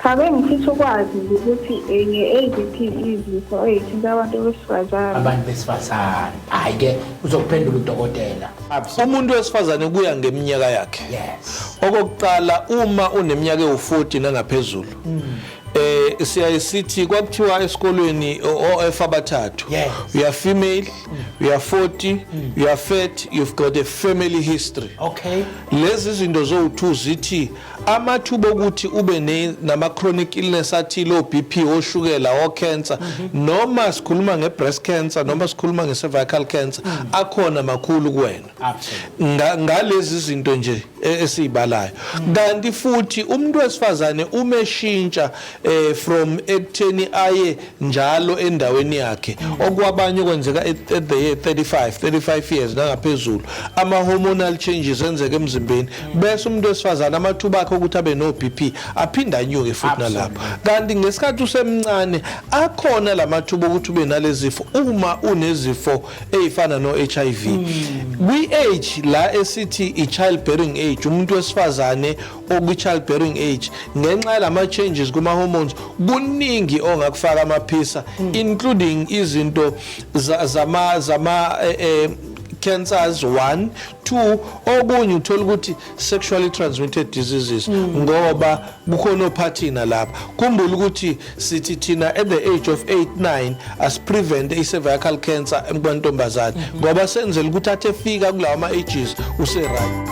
Cha bengifisa ukwazi nje ukuthi eh, nge-AVP izifo ey'thinta abantu besifazane. abantu besifazane hhayi ke uzokuphendula udokotela umuntu wesifazane kuya ngeminyaka yakhe yes okokuqala uma uneminyaka ewu-40 nangaphezulu eh siyaye sithi kwakuthiwa esikolweni OF abathathu Yes. you are female you are 40 you are fat you've got a family history okay lezi zinto zowu-2 zithi amathuba okuthi ube nama-chronic illness athile o-bp oshukela o-cancer mhm. noma sikhuluma nge-breast cancer noma sikhuluma nge-cervical cancer mhm. akhona makhulu kuwena ngalezi zinto nje e, esiyibalayo mhm. kanti futhi umuntu wesifazane umeshintsha eh from ekutheni aye njalo endaweni yakhe okwabanye okwenzeka at at the year 35 35 years nangaphezulu ama hormonal changes enzeka emzimbeni bese umuntu wesifazana amathuba akhe ukuthi abe no BP aphinda anyuke futhi nalapho kanti ngesikhathi usemncane akhona lamathuba ukuthi ube nalezifo uma unezifo ezifana no HIV kwi age la esithi i childbearing age umuntu wesifazane okwi-childbearing age ngenxa yalama-changes kuma-hormones kuningi ongakufaka amaphisa hmm. including izinto zama zama eh, eh, cancers one two okunye uthola ukuthi sexually transmitted diseases hmm. ngoba kukhona ophathina lapha khumbula ukuthi sithi thina at the age of 8 9 asiprevent i-cervical cancer emkwantombazane mhm. ngoba senzela ukuthi athi efika kulawa ma-ages useright